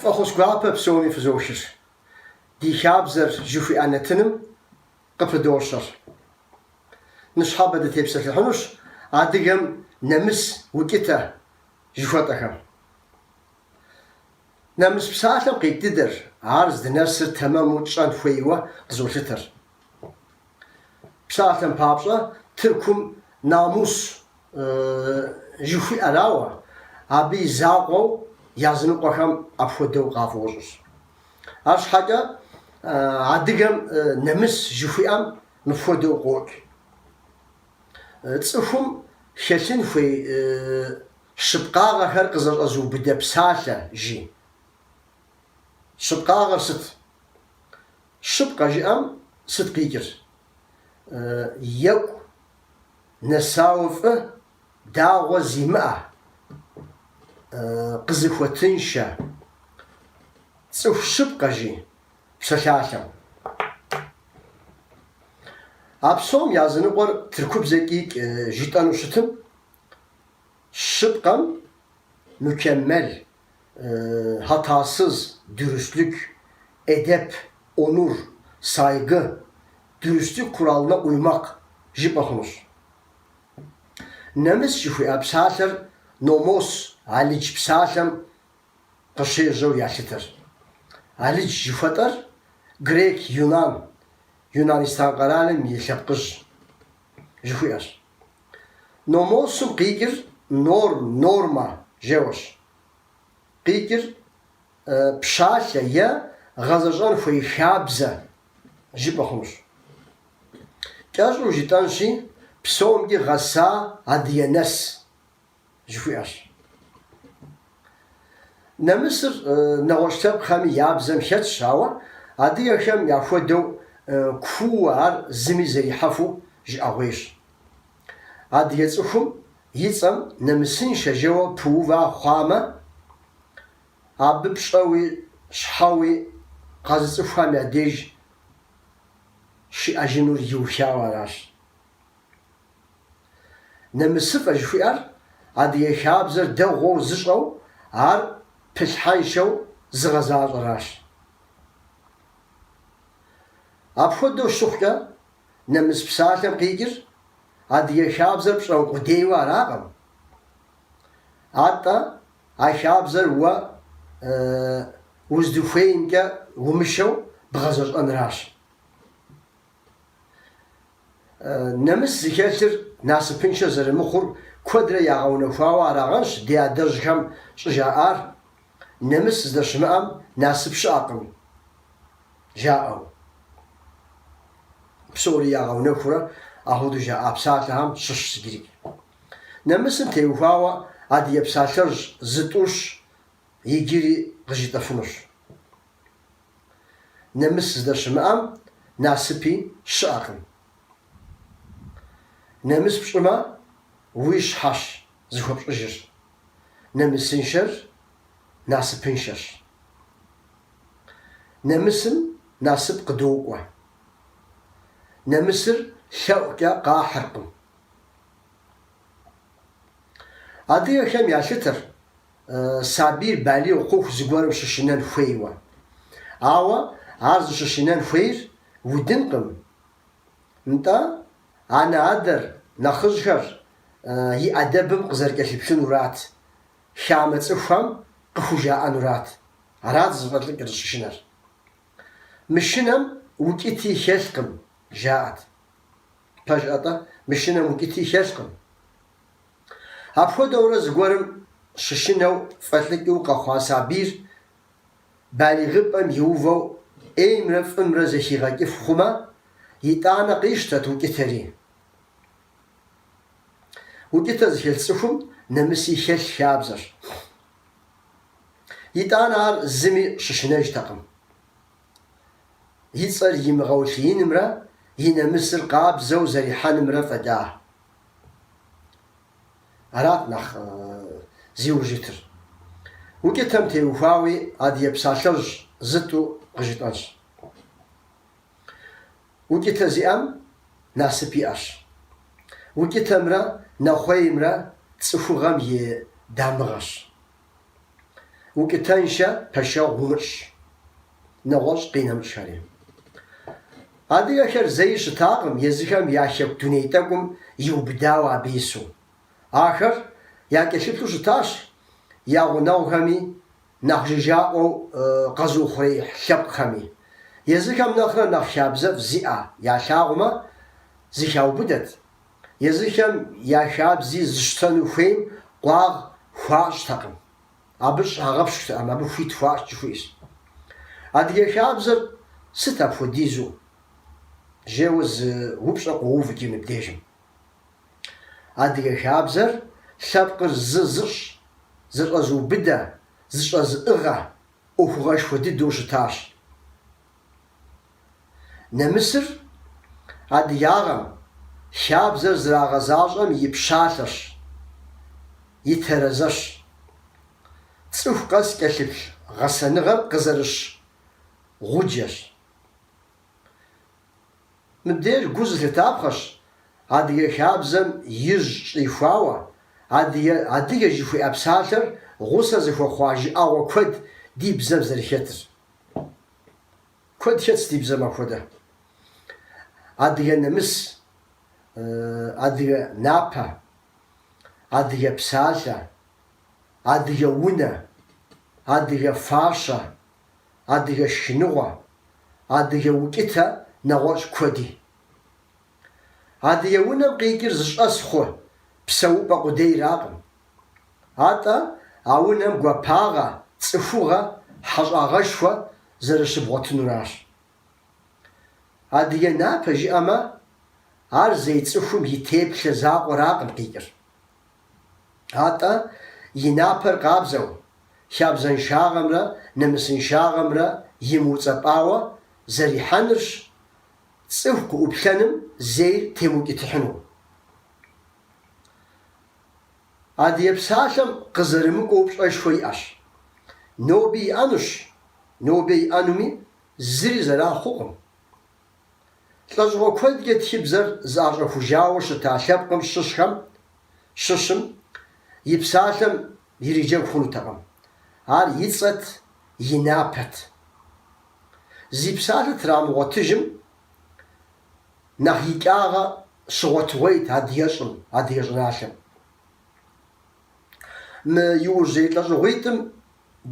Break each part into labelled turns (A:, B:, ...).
A: Фӏэхъус гуапэ псоми фызохыр. Ди хабзэр жыхуиӏэ нэтыным къыпыдощэр. Ныщхьэбэ дытепсэлъыхьынущ адыгэм нэмыс, укӏытэ жыхуэтӏэхэм. Нэмыс псалъэм къикӏ дыдэр, ар здынэсыр тэмэму тщӏэн хуейуэ къызолъытэр. Псалъэм папщӏэ, Тыркум намус жыхуиӏэрауэ, абы и закъуэу языныкъуэхэм апхуэдэу къафӏощӏыр. Арщхьэкӏэ адыгэм нэмыс жыхуиӏэм мыпхуэдэу къокӏ. Цӏыхум хэлъын хуей щыпкъагъэхэр къызэщӏэзыубыдэ псалъэ, жи. Щыпкъагъэр сыт? Щыпкъэ жыӏэм сыт къикӏыр? Екӏу, нэсауэ фӏы, дагъуэ зимыӏэ, къызыхуэтыншэ. Цӏыху щыпкъэ, жи. псалъалъэу. А псом языныкъуэр тыркубзэкӏи житӏэну щытым, щыпкъэм Мукеммел, Хьэтасыз, Дюрюслюк, Эдеп, Онур, Сайгы, Дюрюслюк Куралмэ Кьуймакъ жыпӏэ хъунущ. Нэмыс жыхуиӏэ псалъэр Номос, Алыдж псалъэм къыщежьэу ялъытэр. Алыдж жыхуэтӏэр грек, юнан, Юнанистан къэралым и лъэпкъыжь жыхуиӏэщ. Номосым къикӏыр норм, нормэ жэуэщ. Къикӏыр пщалъэ е гъэзэщӏэн хуей хабзэ жыпӏэ хъунущ. Кӏэщӏу жытӏэнщи, псомкӏи гъэса адыгэ нэс жыхуиӏэщ. Нэмысыр нэгъуэщӏ лъэпкъхэми я бзэм хэтщ, ауэ адыгэхэм яхуэдэу кууэ ар зыми зэрихьэфу жыӏэгъуейщ. Адыгэ цӏыхум и цӏэм нэмысыншэ жэуэ пыува хъуамэ, абы пщӏэуи щхьэуи къэзыцӏыхухэм я деж щиӏэжынур иухауэ аращ. Нэмысыфӏэ жыхуиӏэр адыгэ хабзэр дэгъуэу зыщӏэу, ар пылъхьэншэу зыгъэзащӏэращ. Апхуэдэу щыхъукӏэ, нэмыс псалъэм къикӏыр адыгэ хабзэр пщӏэн къудейуэ аракъым. Атӏэ, а хабзэр уэ уздыхуеймкӏэ умышэу бгъэзэщӏэнращ. Нэмыс зыхэлъыр насыпыншэ зэрымыхъур куэдрэ ягъэунэхуауэ арагъэнщ ди адэжьхэм щӏыжаӏар, Нэмыс здэщымыӏэм насып щыӏэкъым жаӏэу. Псори ягъэунэхурэ ахуэдэу жаӏа псалъэхэм щыщщ. Иджырикӏ нэмысым теухуауэ адыгэ псалъэжь зытӏущ, иджыри къыжытӏэфынущ. нэмыс здэщымыӏэм насыпи щыӏэкъым. Нэмыс пщӏымэ, уи щхьэщ зыхуэпщӏыжыр, нэмысыншэр насыпыншэщ. Нэмысым насып къыдокӏуэ. Нэмысыр лъэӏукӏэ къахьыркъым. Адыгэхэм ялъытэр сабийр балигъ хъуху зыгуэрым щышынэн хуейуэ. Ауэ ар зыщышынэн хуейр удынкъым. Нтӏэ, анэ-адэр, нэхъыжьхэр и ӏэдэбым къызэрыкӏэлъыплъынурат, хамэ цӏыхухэм къыхужаӏэнурат. Арат зыфӏэлӏыкӏыр зыщышынэр. Мышынэм укӏыти хэлъкъым, жаӏэт. Пэжӏэ-тӏэ, мышынэм укӏыти хэлъкъым. Апхуэдэурэ зыгуэрым щышынэу фӏэлӏыкӏыу къэхъуа сабийр балигъыпӏэм иувэу ӏеймрэ фӏымрэ зэхигъэкӏыф хъумэ, итӏанэ къищтэт укӏытэри. Укӏытэ зыхэлъ цӏыхум нэмыси хэлъ хабзэщ. Итӏанэ ар зыми щышынэжтэкъым. И цӏэр имыгъэулъиинымрэ и нэмысыр къабзэу зэрихьэнымрэ фӏэда. Арат нэхъ зиужь итыр. Укӏытэм теухуауи Адыгэ псалъэжь зытӏу къыжытӏэнщ. Укӏытэ зиӏэм насып иӏэщ. Укӏытэмрэ нэхъуеймрэ цӏыхугъэм и дамыгъэщ. укӏытэншэ пэшэгъу умыщӏ, нэгъуэщӏ къинэмыщӏхэри. Адыгэхэр зэи щытакъым езыхэм я Хэку дуней тӏэкӏум иубыдауэ абы ису. Ахэр якӏэлъыплъу щытащ я гъунэгъухэми, нэхъ жыжьаӏуэу къэзыухъуреихь лъэпкъхэми. Езыхэм нэхърэ нэхъ хабзэфӏ зиӏэ ялъагъумэ, зыхаубыдэт. Езыхэм я хабзи зыщтэну хуейм къуагъ хуащӏтэкъым. Абы щагъэпщкӏутэкъым, абы хуит хуащӏ жыхуиӏэщ. Адыгэ хабзэр сыт апхуэдизу? жеуэ зы упщӏэ къоув икӏи мыбдежым. Адыгэ хабзэр лъэпкъыр зы зыщӏ, зэщӏэзыубыдэ, зэщӏэзыӏыгъэ ӏуэхугъуэшхуэ дыдэу щытащ. Нэмысыр адыгагъэм хабзэр зэрагъэзащӏэм и пщалъэщ, и терэзэщ. Цӏыху къэс кӏэлъыплъ гъэсэныгъэр къызэрыщ гъуджэщ. Мыбдеж гу зылъытапхъэщ адыгэ хабзэм ижь щӏихуауэ адыгэ жыхуиӏэ псалъэр гъусэ зыхуэхъуа жыӏэгъуэ куэд ди бзэм зэрыхэтыр. Куэд хэтщ ди бзэм апхуэдэ. Адыгэ нэмыс, адыгэ напэ, адыгэ псалъэ, адыгэ унэ, адыгэ фащэ, адыгэ шхыныгъуэ, адыгэ укӏытэ нэгъуэщӏ куэди. Адыгэ унэм къикӏыр зыщӏэс хъу псэупӏэ къудейракъым. Атӏэ а унэм гуапагъэ, цӏыхугъэ, хьэщӏагъэшхуэ зэрыщыбгъуэтынуращ. Адыгэ напэ жиӏэмэ, ар зей цӏыхум и теплъэ закъуэракъым къикӏыр. Атӏэ и напэр къабзэу, хабзэншагъэмрэ нэмысыншагъэмрэ имыуцӏэпӏауэ зэрихьэнырщ, цӏыху къыӏуплъэным зейр темыукӏытыхьыну. Адыгэ псалъэм къызэрымыкӏуэу пщӏэшхуэ иӏэщ. Ноби иӏэнущ, ноби иӏэнуми зыри зэран хъукъым. Лӏэщӏыгъуэ куэдкӏэ тхыбзэр зыӏэщӏэхужауэ щыта лъэпкъым щыщхэм щыщым и псалъэм ириджэгу хъунутэкъым, ар и цӏэт, и напэт. Зи псалъэ трамыгъуэтыжым нэхъ икӏагъэ щыгъуэтыгъуейт адыгэщӏым, адыгэ щӏыналъэм. Мы иужьрей лӏэщӏыгъуитӏым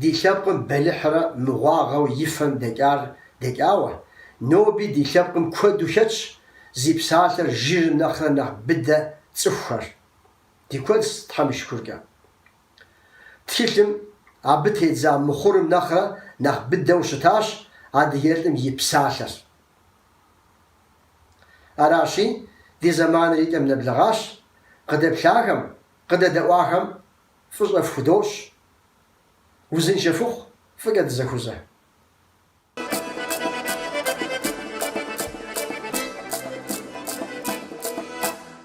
A: ди лъэпкъым бэлыхьрэ мыгъуагъэу и фэм дэкӏар дэкӏауэ, ноби ди лъэпкъым куэду хэтщ зи псалъэр жырым нэхърэ нэхъ быдэ цӏыхухэр. Ди куэдщ, Тхьэм и шыкуркӏэ. Тхылъым абы тедза мыхъурым нэхърэ нэхъ быдэу щытащ адыгэлӏым и псалъэр. Аращи, ди зэманыр и кӏэм нэблэгъащ, къыдэплъахэм, къыдэдэӏуахэм фӏыщӏэ фхудощӏ, узыншэ фыхъу, фӏыкӏэ дызэхузэ.